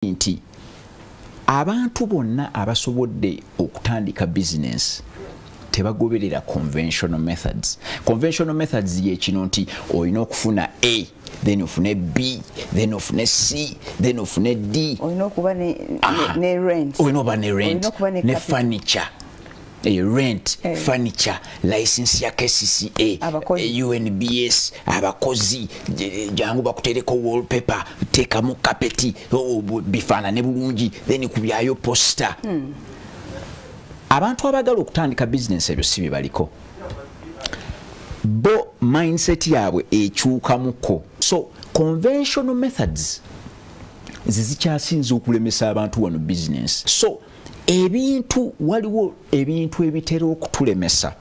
yagambye nti abantu bonna abasobodde okutandika bizinensi tebagoberera conventional methods conventional methods yekino nti olina okufuna a then ofune b then ofune c then ofune d olina okuba ne rent olina okuba ne rent ne furniture Hey, eh, rent hey. Eh. furniture license ya kcca abakozi. Eh, unbs abakozi jangu bakutereko wallpaper tekamu kapeti oh, bifaanane bulungi then kubyayo posta hmm. abantu abagala okutandika business ebyo si byebaliko bo mindset yaabwe ekyukamuko so conventional methods zizikyasinza okulemesa abantu wano business so ebintu waliwo ebintu ebitera okutulemesa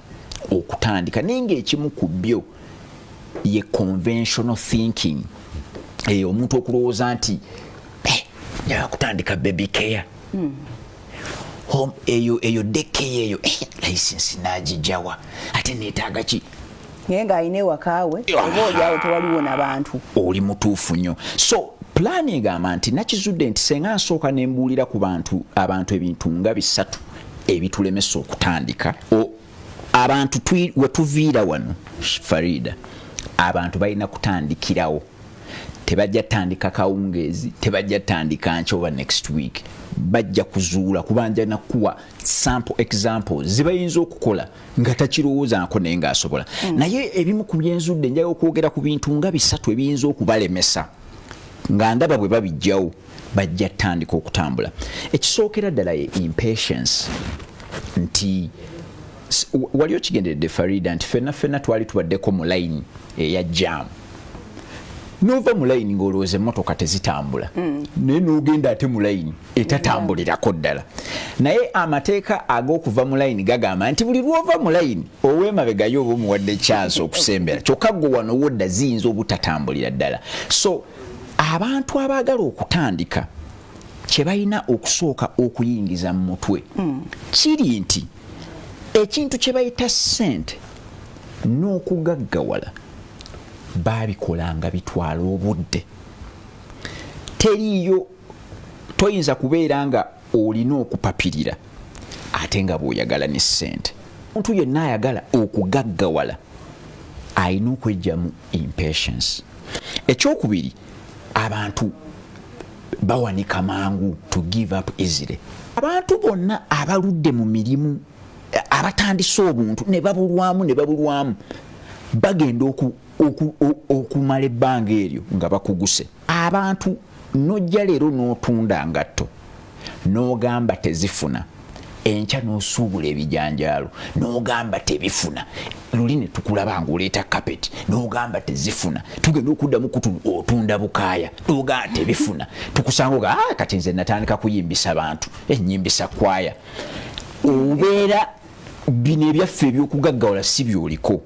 okutandika naye ngaekimu ku byo ye conventional thinking eyo omuntu okulowooza nti eh, nyaa kutandika baby care hmm. home eyo eyo dekeya eyo eh, license nagijawa ate netaaga ki naye ng'alina ewaka we oba olyawo tewaliwo na bantu oli mutuufu nnyo so pulaani egamba nti nakizudde nti senga nsooka ne mbuulira ku bantu abantu ebintu nga bisatu ebitulemesa okutandika abantu we tuviira wano farida abantu balina kutandikirawo tebajja tandika kawungeezi tebajja tandika nkyoba next week bajja kuzuula kubanja nakuwa sample examples zibayinza okukola nga takirowoozanko naye ng'asobola mm. naye ebimu ku byenzudde njala okwogera ku bintu nga bisatu ebiyinza okubalemesa nga ndaba bwe babijjawo bajja tandika okutambula ekisookera ddala ye impatience nti wali okigenderedde farida nti fenna fenna twali tubaddeko mu layini eya jaamu nova mu layini ng'olowooza emmotoka tezitambula hmm. naye n'ogenda ate mu layini etatambulirako ddala naye amateeka ag'okuva mu layini gagamba nti buli lwova mu layini ow'emabegayo oba omuwadde kyansi okusembera kyokka gwe wano wodda ziyinza obutatambulira ddala so abantu abaagala okutandika kye balina okusooka okuyingiza mu mutwe hmm. kiri nti ekintu kye bayita ssente n'okugaggawala baabikola nga bitwala obudde teriiyo toyinza kubeera nga olina okupapirira ate nga bw'oyagala ne ssente omuntu yenna ayagala okugaggawala alina okwejjamu impatience ekyokubiri abantu bawanika mangu to give up easily abantu bonna abaludde mu mirimu abatandise obuntu ne babulwamu ne babulwamu bagenda okumala ebbanga eryo nga bakuguse abantu nojja leero n'otunda ngatto n'ogamba tezifuna enkya n'osuubula ebijanjaalo n'ogamba tebifuna luli ne tukulaba ng'oleeta kapeti n'ogamba tezifuna tugenda okuddamu kutu otunda bukaaya n'ogamba tebifuna tukusanga oga ah, kati nze natandika kuyimbisa bantu enyimbisa kwaya obeera bino ebyaffe ebyokugaggawala si byoliko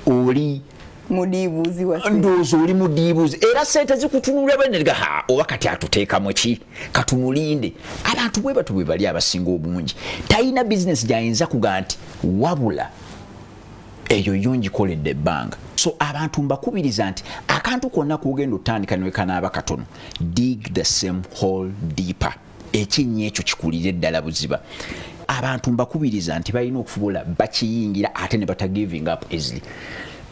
oli ndowooza oli mudiibuuzi era sente zikutunula benega ha oba kati atuteekamu ki katumulinde abantu bwe batu bwe bali abasinga obungi talina bizinesi gyayinza kuga nti wabula eyo yo ngikoledde ebbanga so abantu mbakubiriza nti akantu konna kugenda otandika newekanaaba katono dig the same hall deeper ekinnya ekyo kikulire ddala buziba abantu mbakubiriza nti balina okufubula bakiyingira ate ne bata giving up easily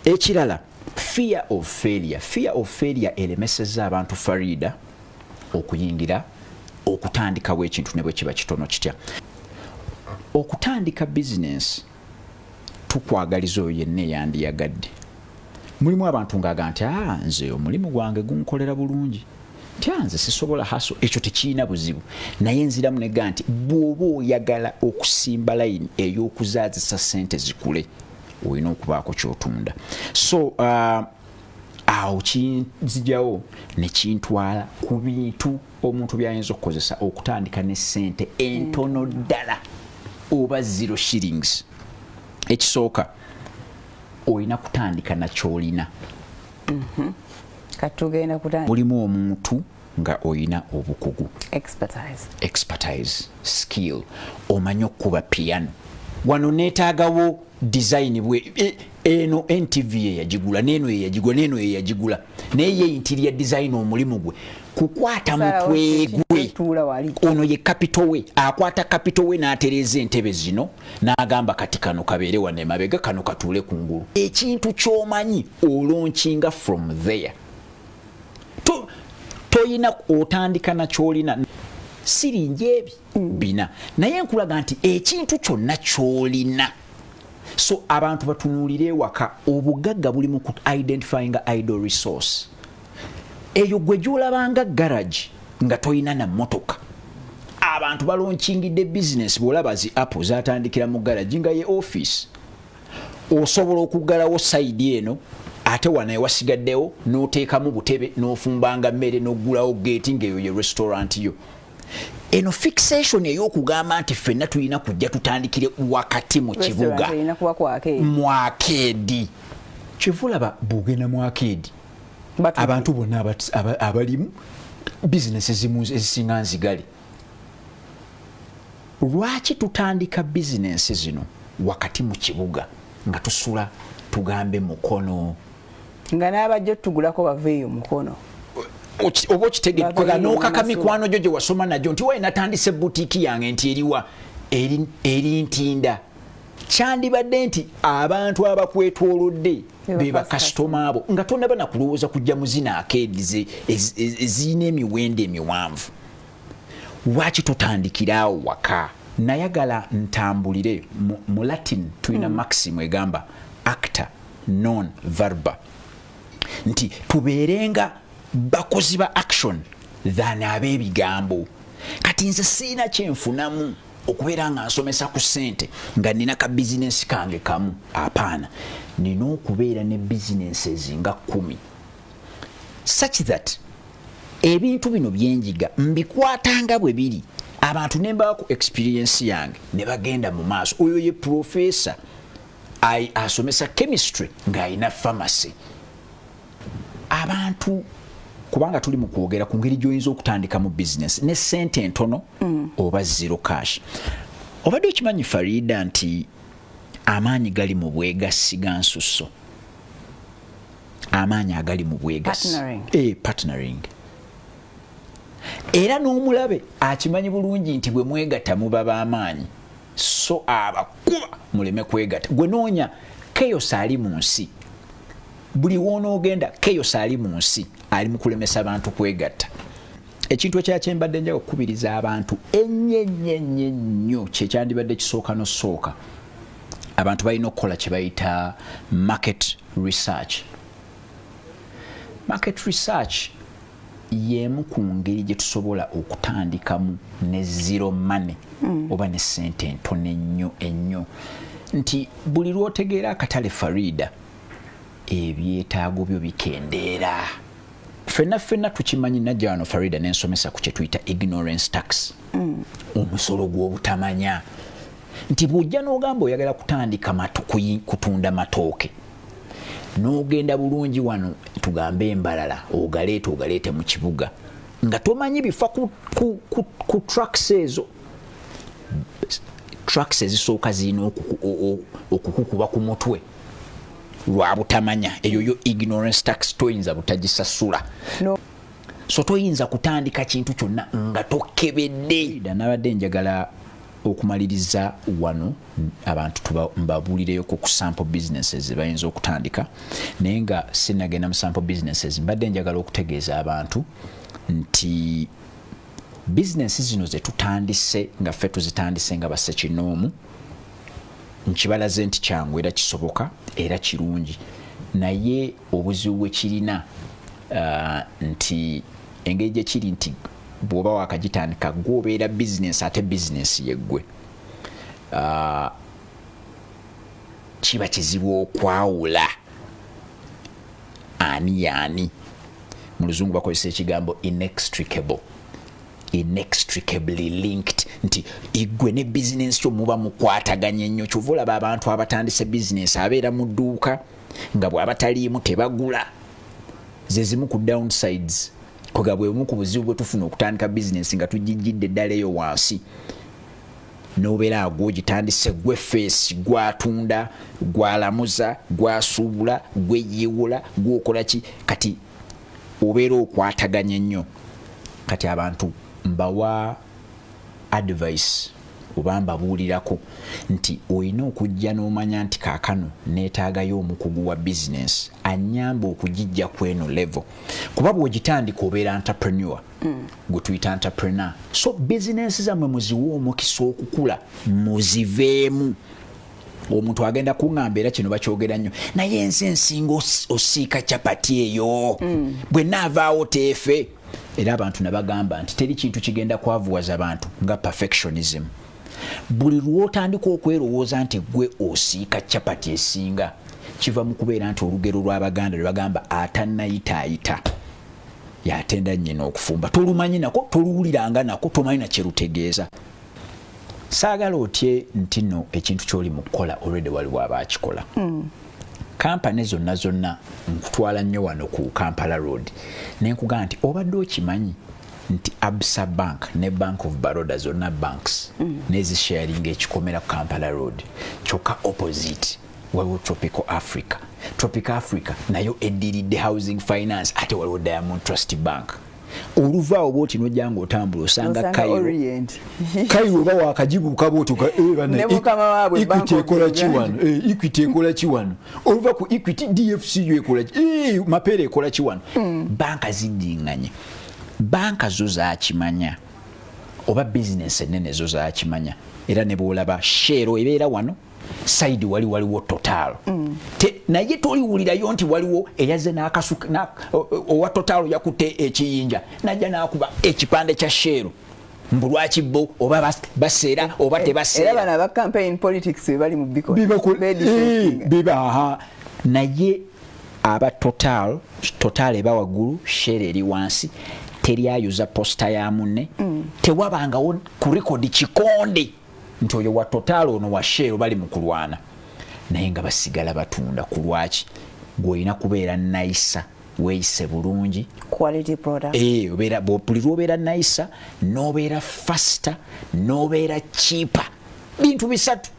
ekirala fear of failure fear of failure elemeseza abantu farida okuyingira okutandikawo ekintu ne bwe kiba kitono kitya okutandika bizinensi tukwagaliza oyo yenna eyandiyagadde mulimu abantu ngaaga nti a ah, nze omulimu gwange gunkolera bulungi nti ah, nze sisobola haso ekyo tekirina buzibu naye nziramu nega nti bw'oba oyagala okusimba layini ey'okuzaazisa sente zikule olina okubaako kyotunda so uh, awo kinzijawo nekintwala ku bintu omuntu byayinza okukozesa okutandika ne sente entono mm. ddala oba zero shillings ekisooka olina kutandika nakyolina mhm. katugenda kutandika mulimu omuntu nga oyina obukugu expertise expertise skill omanyi okukuba piano wano netagawo design bwe e, eno ntv yeyagigula neno yeyagigula neno yeyagigula naye ye interior design omulimu gwe kukwata mutwe gwe ono ye capital we akwata capital we n'atereeza entebe zino n'agamba kati kano kabeere wano emabega kano katuule ku ngulu ekintu ky'omanyi olonkinga from there toyina to otandika nakyolina siringi ebi bina naye nkulaga nti ekintu kyonna kyolina so abantu batunuulire ewaka obugagga buli mu identifyinga idol resource eyo gwe gyolabanga garage nga tolina na motoka abantu balonkingidde bizinesi bwolaba zi apple zatandikira mu garage nga ye office osobola okuggalawo sayidi eno ate wano ewasigaddewo n'oteekamu butebe n'ofumbanga mmere n'oggulawo geeti ng'eyo ye restaurant yo eno fixation eyokugamba nti fenna tulina kujja tutandikire wakati mu kibuga mwakeedi kyevulaba bwogenda mwakeedi abantu bonna abalimu bizinesi zimu ezisinga nzigale lwaki tutandika bizinensi zino wakati mu kibuga nga tusula tugambe mukono nga n'abajja otugulako bava eyo mukono oba okitegekwega n'okaka mikwano gyo gye wasoma nagyo nti waye natandise butiiki yange nti eriwa eri ntinda kyandibadde nti abantu abakwetwolodde be bakasitoma abo nga tonaba nakulowooza kujja muzina akeedize ezirina emiwendo emiwanvu lwaki totandikira awo waka nayagala ntambulire mu latin tulina hmm. maxim egamba acta non verba nti tubeerenga bakozi ba action than abeebigambo kati nze siina kyenfunamu okubeera nga nsomesa ku sente nga nina ka bizinensi kange kamu apaana nina okubeera ne bizinensi ezinga kumi such that ebintu bino byenjiga mbikwatanga bwe biri abantu nembawa ku experiensi yange ne bagenda mu maaso oyo ye profesa ai asomesa chemistry ng'alina pharmacy abantu kubanga tuli mu kwogera ku ngeri gy'oyinza okutandika mu bizinesi ne ssente entono mm. oba zero cash obadde okimanyi farida nti amaanyi gali mu bwegassi ga nsusso amaanyi agali mu bwegassi eh, partnering era n'omulabe akimanyi bulungi nti bwe mwegatta muba b'amaanyi so abakuba muleme kwegata gwe noonya chaos ali mu nsi buli wonoogenda chaos ali mu nsi ali mu kulemesa bantu kwegatta ekintu ekyakyembadde njaga okukubiriza abantu enyenyenye nnyo kyekyandibadde kisooka nosooka abantu balina okukola kyebayita market research market research y'emu ku ngeri gye tusobola okutandikamu ne zero money mm. oba ne ssente entono ennyo ennyo nti buli lw'otegeera akatale farida ebyetaago byo bikendeera fenna fenna tukimanyi najja wano farida nensomesa ku kyetuyita ignorance tax mm. omusolo gw'obutamanya nti bw'ojja n'ogamba oyagala kutandika kutunda matooke n'ogenda bulungi wano tugambe embalala ogaleeta ogaleete mu kibuga nga tomanyi bifa ku, ku, ku, ku tracks ezo tracks ezisooka zirina okukukuba ku mutwe lwa butamanya eyo yo ignorance tax toyinza butagisasula no. so toyinza kutandika kintu kyonna nga tokebedde nabadde njagala Okumaliriza wano abantu tubabuulireyo ku sample businesses zebayinza okutandika naye nga sinagenda mu sample businesses mbadde njagala okutegeeza abantu nti bizinensi zino zetutandise nga ffe tuzitandise nga basekinoomu nkibalaze nti kyangu era kisoboka era kirungi naye obuzibu bwekirina uh, nti engeri gyekiri nti bwoba wakagitandika gwe obeera bizinensi ate bizinensi yeggwe ah, kiba kizibu okwawula ani yaani mu luzungu bakozesa ekigambo inextricable inextricably linked nti igwe ne bizinensi kyo muba mukwataganye nnyo kyova olaba abantu abatandise bizinensi abeera mu dduuka nga bw'abataliimu tebagula zezimu ku downsides Koga bwe bumu ku buzibu bwe tufuna okutandika bizinensi nga tugijjidde ddala eyo wansi n'obeera agwo ogitandise gwe feesi gwatunda gwalamuza gwasuubula gweyiiwula gwokola ki kati obeera okwataganye nnyo kati abantu mbawa advice oba mbabuulirako nti olina okujja n'omanya nti kaakano neetaagayo omukugu wa bizinensi annyamba okugijja ku eno levo kuba bw'ogitandika obeera entrepreneur mm. gwe tuyita entrepreneur so bizinensi zammwe muziwe omukisa okukula muziveemu omuntu agenda kuŋamba era kino bakyogera nnyo naye ensi ensinga osiika capati eyo mm. bwe naavaawo teefe Era abantu nabagamba nti teri kintu kigenda kwavuwaza bantu nga perfectionism. Buli lwotandika okwerowooza nti gwe osiika chapati esinga kiva mu kubeera nti olugero lw'Abaganda lwe bagamba atannayitaayita yatenda nnyina okufumba tolumanyi nako toluwuliranga nako tomanyi nakye lutegeeza saagala otye nti no ekintu ky'oli mu kukola olwedde waliwo aba akikola mm. kampani zonna zonna nkutwala nnyo wano ku kampala road nenkugamba nti obadde okimanyi nti absa bank ne bank of baroda zonna banks mm. nezisharinga ekikomera ku kampala road kyokka opposite waliwo tropical africa tropical africa nayo eddiridde housing finance ate waliwo diamond trust bank oluva awo bwoti nojja nga otambula osanga kairo oba wakagibuuka bwoti equity ekola kiwano equity ekola kiwano oluva ku equity dfcu ekola eh, mapeera ekola kiwano hmm. banka zijinganye banka zo zakimanya oba bizinesi enene zo zakimanya era nebwolaba sheero ebeera wano side wali waliwo total mm. te naye toliwulirayo nti waliwo eyaze nakasuka na, owa total yakute ekiyinja naja nakuba ekipande kya sheru mbu lwaki bo oba baseera oba tebaseera era bana ba campaign politics bali mu biko biba eh, aha naye aba total total eba wagulu share eri wansi teri ayuza posta ya munne mm. tewabangawo ku record kikonde nti oyo wa total ono wa shell bali mu kulwana naye nga basigala batunda ku lwaki gwolina kubeera nayisa weyise bulungi eh, buli lwobeera nayisa nobeera faster nobeera chipa bintu bisatu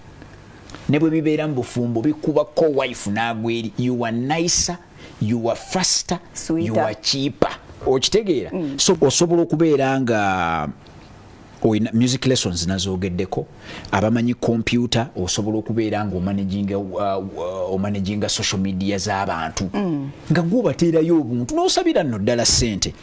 ne bwe bibeera mu bufumbo bikuba ko wife nagweri yuwa nayisa yuwa faster yuwa chipa okitegeera mm. so osobola okubeera nga oyina music lessons nazogeddeko abamanyi kompyuta osobola okubeera nga omanaginga uh, uh, omanaginga social media z'abantu mm. nga gwobateerayo obuntu n'osabira nno ddala ssente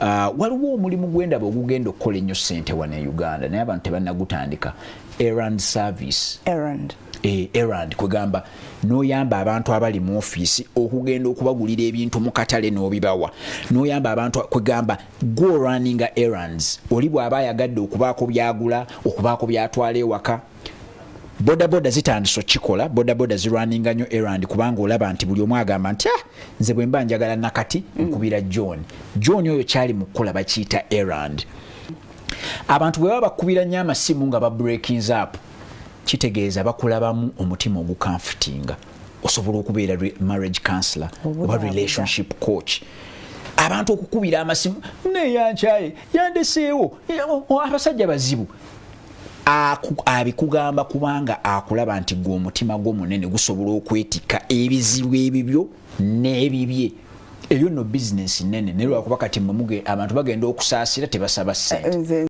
uh, waliwo omulimu gwendaba ogugenda okukola ennyo ssente wano e uganda naye abantu tebanagutandika erand service erand eh, erand kwegamba noyamba abantu abali mu ofiisi okugenda okubagulira ebintu mu katale n'obibawa noyamba abantu kwegamba Gwe orunninga errands oli bwaba ayagadde okubaako byagula, okubaako byatwala ewaka, boda boda zitandise okikola, boda boda zirunninga nyo errand kubanga olaba nti buli omu agamba nti ah nze bwemba njagala nakati nkubira John. John oyo kyali mu kukola bakiyita errand. Abantu bwe baba bakubira nyo amasimu nga ba breakings up kitegeeza bakulabamu omutima ogukanfutinga. osobola okubeera marriage counselor oba relationship coach abantu okukubira amasimu neyankyaye yandeseewo abasajja bazibu abikugamba kubanga akulaba nti gwe omutima gwo munene gusobola okwetikka ebizibu ebibyo n'ebibye eyo no bizinesi nene naye lwakuba kati abantu bagenda okusaasira tebasaba sente